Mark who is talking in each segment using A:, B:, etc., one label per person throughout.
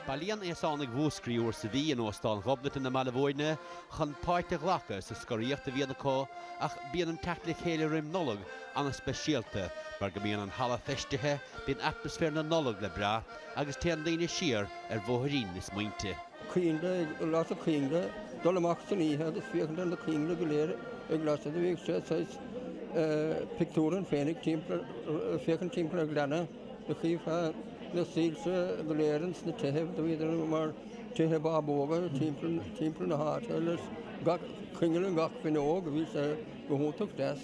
A: Bailíonn aosánaigh Mhúscraí uair sa mhí in Óstán Ghobnatan i mBaile Mhúirne chun páirt a ghlacadh sa scoraíocht a bhíonn acu ach bíonn an teacht le chéile roim Nollag ana-speisialta mar go mbíonn an halla feistithe, bíonn atmaisféar na Nollag le brath agus téann daoine siar ar bhóithrín na smaointe. Coinnle a lasadh coinnle, dul amach san oíche agus féachaint ar na coinnle go léir ag lasadh. Do bhíodh sé saghas pictiúr ann féinig timpeall, féachaint timpeall ar ghleanna. Go gcífeá na soilse go léir ins na tithe do bhíodar mar tithe bábóga timpeall na háite agus gach coinneal i ngach fuinneog á bhí sé go hiontach deas.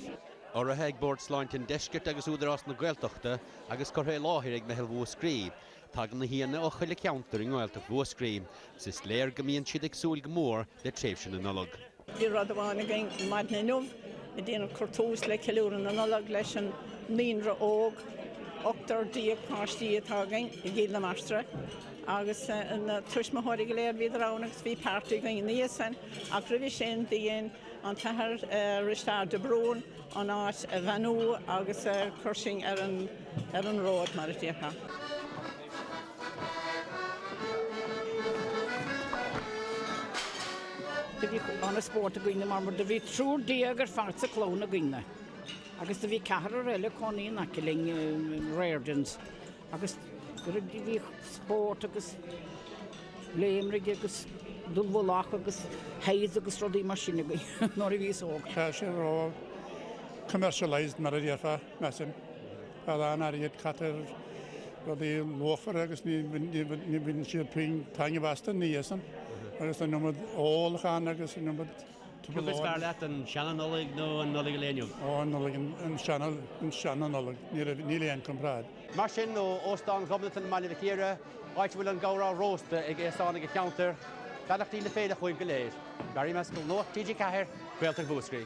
A: urraithe ag Bord Sláinte an Deiscirt agus Údarás na Gaeltachta agus curtha i láthair ag Meitheal Mhúscraí. Tagann na haíonna ó chuile ceantar i nGaeltacht Mhúscraí. 'S is léir go mbíonn siad ag súil go mór le tréimhse na Nollag. Bhí rud amháin againn maidin inniu á dhéanamh, cur tús le ceiliúradh na Nollag leis an naíonra óg, ochtar déag páistí atá againn i gCill na Martra agus na tuismitheoirí go léir, bhíodar ann agus bhí party againn ina dhiaidh san ach roimhe sin do dhein an tAthair Risteard de Brún an áit a bheannú agus chuir sinn ar an road mar a déarfá. Do bhí ana-spórt againne mar do bhí triúr déag ar fad sa clann againne agus do bhí ceathrar eile ag cónaí in aice linn i Rairdens agus bhí spórt agus léimrigh agus dúbhach agus théad agus rudaí mar sin againn nuair a bhíos óg. Tá sé ró commercialised mar a déarfá. Mar sin, tá a lán airgid caite ar rudaí luachmhara agus ní bhaineann siad puinn taitneamh astu ina dhiaidh san. Agus tá an iomad ólacháin agus an iomad tugtha lár. Cad is fearr leat, an seana-Nollaig nó Nollaig an lae inniu? Ó, an Nollaig, an seana, an seana-Nollaig. Níl aon comparáid. Mar sin, ó Óstán Ghobnatan i mBaile Mhic Íre, áit a bhfuil an gabhrán rósta ag aosánaigh an cheantair, beannachtaí na féile chugaibh go léir. Mary Maskell Nuacht TG4, Gaeltacht Mhúscraí.